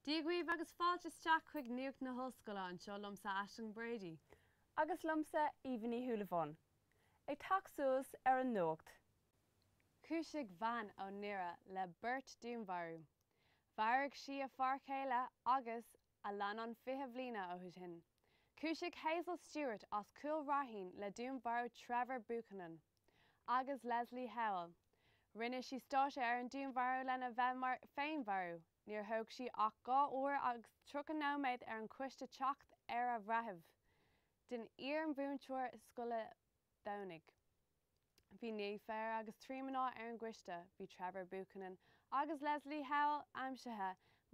Dia dhaoibh agus fáilte isteach chuig Nuacht na hOllscoile, anseo liomsa Aisling Brady. Agus liomsa Aoibhinn Ní Shúilleabháin. Ag teacht suas ar an nuacht. Cúisigh bhean ó nDoire le beirt dúnmharú. Mharaigh sí a fear chéile agus a leannán fiche bliana ó shin. Cúisigh Hazel Stewart as Cúil Raithin le dúnmharú Trevor Buchanan. agus Lesley Howell. Rinne sí stáitse ar an dúnmharú lena bheith mar féinmharú. Níor thóg sé ach dhá uair agus tríocha nóiméad ar an choiste teacht ar a bhreitheamh. den iar-mhúinteoir scoile Domhnaigh. Bhí naoi fear agus trí mná ar an gcoiste. Bhí Trevor Buchanan agus Lesley Howell aimsithe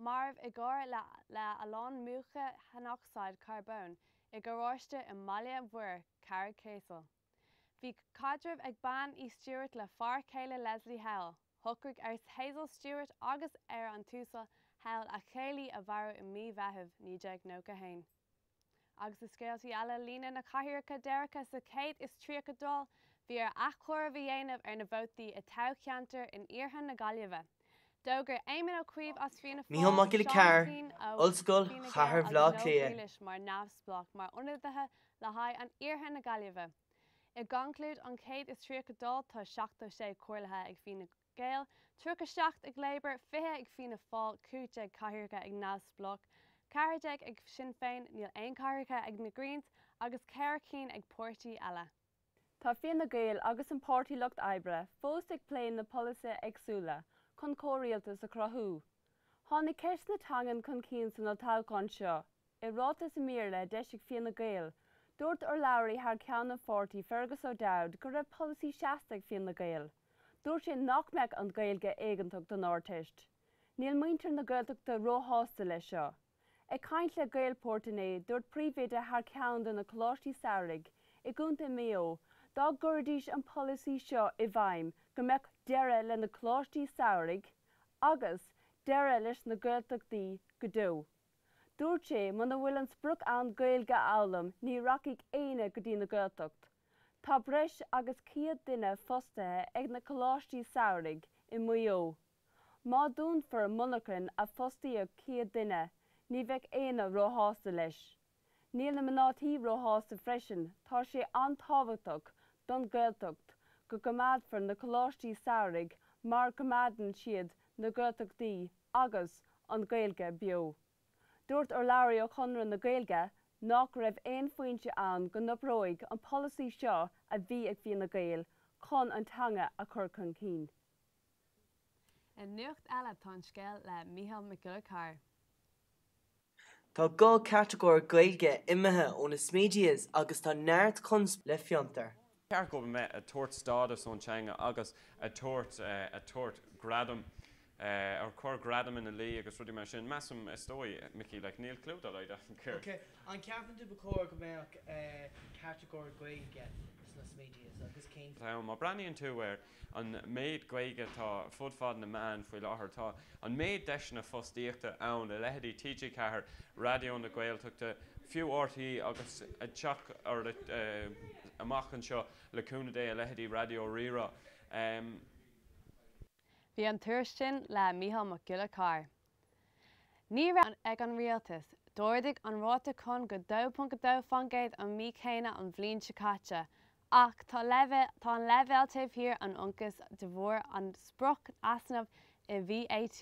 marbh i gcarr le a lán múcha aonocsaíd charbóin i ngaráiste i mBaile Mhuire, Carraig Ceasail. Bhí caidreamh ag Bean Uí Stewart le fear chéile Lesley Howell. Shocraigh ar Hazel Stewart agus ar an tUasal Howell a chéilí a mharú i mí Mheithimh 1991. Agus i scéaltaí eile líonadh na cathaoireacha deireanacha sa 31ú Dáil bhí ar athchomhaireamh a dhéanamh ar na vótaí i thoghcheantair in iarthar na Gaillimhe. D'fhógair Éamon Ó Cuív as Fianna Micheál Fáil, Mac Giolla Seán Ó Cearr, Cuinn ó Ollscoil Fhine Gall Chathair Bhleá agus Leo Cliath. Grealish mar neamhspleách mar ionadaithe le haghaidh an iarthair na Gaillimhe. I gconclúid an 31ú Dáil tá 76 comhairlithe ag Fine Gael, 37 ag Labour, 20 ag Fianna Fáil, 15 cathaoireacha ag neamhspleách, 14 ag Sinn Féin, níl aon cathaoireacha ag na Greens agus ceithre cinn ag páirtí eile. Tá Fine Gael agus an Páirtí Lucht Oibre fós ag plé na polasaithe éagsúla chun comhrialtas a chruthú. Tháinig ceist na teangan chun cinn san olltoghchán seo. I ráiteas ar maidir le d'eisigh Fianna Gael, dúirt urlabhraí thar ceann an pháirtí Fergus O'Dowd go raibh polasaí seasta ag Fianna Gael. Dúirt sé nach mbeadh an Ghaeilge éigeantach don Ardteist. Níl muintir na Gaeltachta ró-shásta leis seo. Ag caint le Gaelport inné, dúirt príomhoide thar ceann de na Coláistí Samhraidh i gContae Maigh Eo dá gcuirfidís an polasaí seo i bhfeidhm go mbeadh deireadh le na Coláistí Samhraidh agus deireadh leis na Gaeltachtaí go deo. Dúirt sé muna bhfuil an sprioc ann Gaeilge a fhoghlaim ní rachaidh éinne go dtí na Gaeltacht. Tá breis agus 100 duine fostaithe ag na Coláistí Samhraidh i Maigh Eo. Má dúnfar monarchan a fostaíodh 100 duine, ní bheadh éinne róshásta leis. Níl na mná tí róshásta freisin, tá sé an-tábhachtach don Ghaeltacht go gcoimeádfar na coláistí samhraidh mar coimeádann siad na Gaeltachtaí agus an Ghaeilge beo. Dúirt urlabhraí ó Chonradh na Gaeilge nach raibh aon foinse ann go n-oibreoidh an polasaí seo a bhí ag Fine Gael chun an teanga a chur chun cinn. I nuacht eile tá an scéal le Mícheál Mac Giolla Carr. Tá dhá catagóir Gaeilge imithe ó na Smedias agus tá neart conspóide le Fiontar. Ceart a bheith ag tabhairt stádas don teanga agus ag tabhairt ag tabhairt gradam ag cur gradam ina luí agus rudaí mar sin. Measaim is dóigh, Micí, like níl clú dá laghad agam céard. Ok, an ceapann tú ba chóir go mbeadh catagóir Gaeilge sna Smedias agus cén fáth? Má breathnaíonn tú ar. an méid Gaeilge atá ar fud fad na meán faoi láthair, tá an méid deiseanna fostaíochta ann i leithéidí TG4, Raidió na Gaeltachta, fiú RTÉ agus ag teacht amach anseo le cúnamh Dé i leithéidí Raidió Rí-Rá. Bhí an tuairisc sin le Mícheál Mac Giolla Carr Ní raibh ag an rialtas. D'ardaigh an ráta cáin go 2.2% an mhí céanna an bhliain seo caite, ach tá an leibhéal taobh thiar an ionchais de bharr an sprioc easnamh i VAT.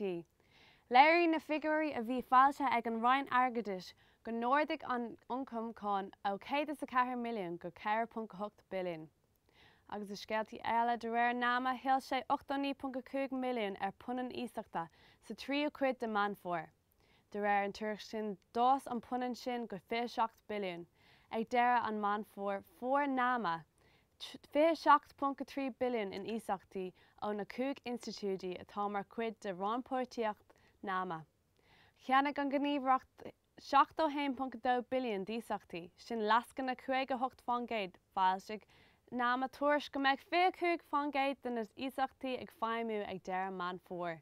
Léirigh na figiúirí a bhí foilsithe ag an Roinn Airgeadais go n-ardaigh an ioncam cáin ó 104 milliún go 4.8 billiún. agus i scéaltaí eile, de réir nama, thuill sé 89.5 milliún ar punann iasachta sa tríú cuid de Meán Fómhair. De réir an tuairisc sin, d'fhás an punann sin go 27 billiún ag deireadh an Meán Fómhair, fuair nama 27.3 billiún in iasachtaí ó na cúig institiúidí atá mar chuid de rannpháirtíocht nama. Cheannaigh an gníomhaireacht. 71.2 billiún d'iasachtaí, sin lascaine 58%, Foilsigh nama tuairisc go mbeadh 25% de na hiasachtaí ag feidhmiú ag deireadh Meán Fómhair.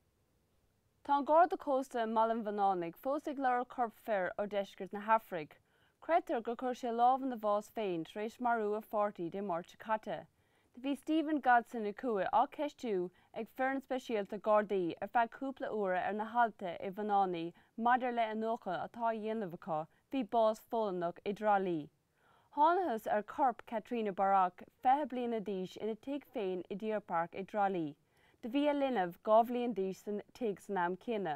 Tá an Garda Cósta i mBaile an Bhunánaigh fós ag lorg corp fir ó deisceart na hAfraice. Creidtear gur chuir sé lámh ina bhás féin tar éis marú a pháirtí Dé Máirt seo caite. Bhí Stephen Godson Ó Cuaig á cheistiú ag foireann speisialta Gardaí ar feadh cúpla uair ar na hAillte i Bhunánaigh maidir le iniúchadh atá a dhéanamh acu faoi bás Pholannach i dTrá Lí. Thánathas ar chorp Katrina Bairéad, 20 bliana d'aois ina tigh féin i Deer Park i dTrá Lí. Do bhí a linbh, 2 bhliain d'aois san tigh san am céanna.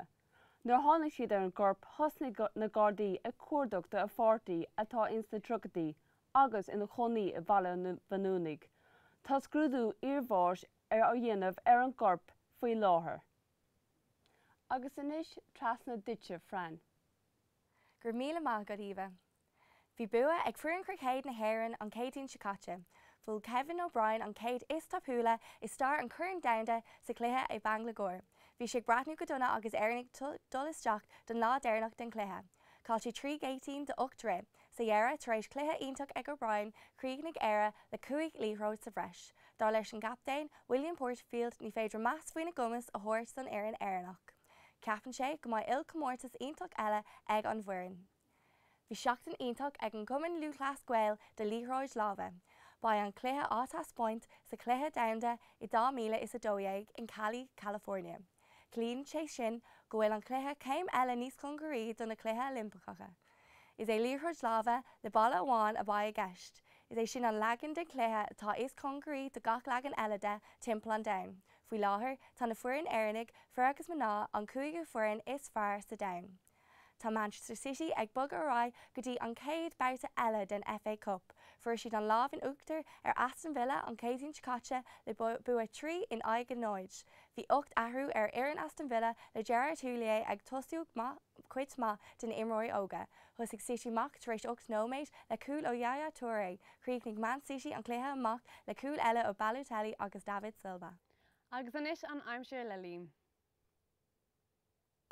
Nuair tháinig siad ar an gcorp thosnaigh na Gardaí ag cuardach do a pháirtí atá ins na triochaidí, agus ina chónaí i Bhaile an Bhuinneánaigh. Tá scrúdú iarbháis ar dhéanamh ar an gcorp faoi láthair. Agus anois trasna duitse, Fran. Go raibh míle maith agat, Eva. Bhí bua ag foireann chruicéid na hÉireann an Céadaoin seo caite. Bhuail Kevin O'Brien an céad is tapúla i stair an Choirn Domhanda sa chluiche i Bangalore. Bhí sé ag breathnú go dona agus Éireannaigh dul isteach don lá deireanach den chluiche. Chaill siad trí gheaitín de ocht rith. Sa dheireadh, tar éis cluiche iontach ag O'Brien, chríochnaigh Éire le cúig liathróid sa bhreis. Dar leis an gcaptaen, William Porterfield, ní féidir meas faoina gcumas a thabhairt don fhoireann Éireannach. Ceapann sé go mbeidh ilchomórtas iontach eile ag an bhfoireann. Bhí seachtain iontach ag an gCumann Lúthchleas Gael do liathróid láimhe. Beidh an cluiche á taispeáint sa chluiche domhanda i 2012 in Cali, California. Ciallaíonn sé sin go bhfuil an cluiche céim eile níos congaraí do na Cluiche Oilimpeacha. Is é liathróid láimhe le balla amháin a bheidh i gceist, is é sin an leagan den chluiche atá is congaraí do gach leagan eile de timpeall an domhain. Faoi láthair, tá na foireann Éireannaigh, fir agus mná, an cúigiú foireann is fearr sa domhan. Tá Manchester City ag bogadh ar aghaidh go dtí an chéad babhta eile den FA Cup. Fuair siad an lámh in uachtar ar Aston Villa an Chéadaoin seo caite le bua trí in aghaidh a náid. Bhí ocht athrú ar fhoireann Aston Villa le Gerard Houllier ag tosú cuid maith de na imreoirí óga. Thosaigh City amach tar éis ocht nóiméad le cúl ó Yaya Touré. Chríochnaigh Man City an cluiche amach le cúil eile ó Balotelli agus David Silva. Agus anois an aimsir le Liam.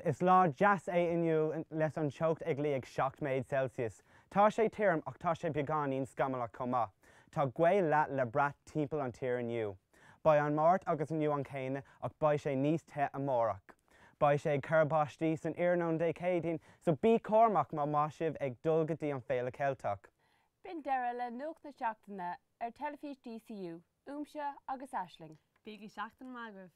Is lá deas é inniu leis an teocht ag luí ag 7 méid Celsius. Tá sé tirim ach tá sé beagáinín scamallach chomh maith. Tá gaoth lag le brath timpeall an tír inniu. Beidh an Máirt agus inniu an céanna ach beidh sé níos te amárach. Beidh sé ag cur báistí san iarnóin Dé Céadaoin so bí cúramach má má sibh ag dul go dtí an Féile Ceilteach. B'in deireadh le Nuacht na Seachtaine ar Teilifís DCU uaimse agus Aisling. Bíodh seachtain maith agaibh.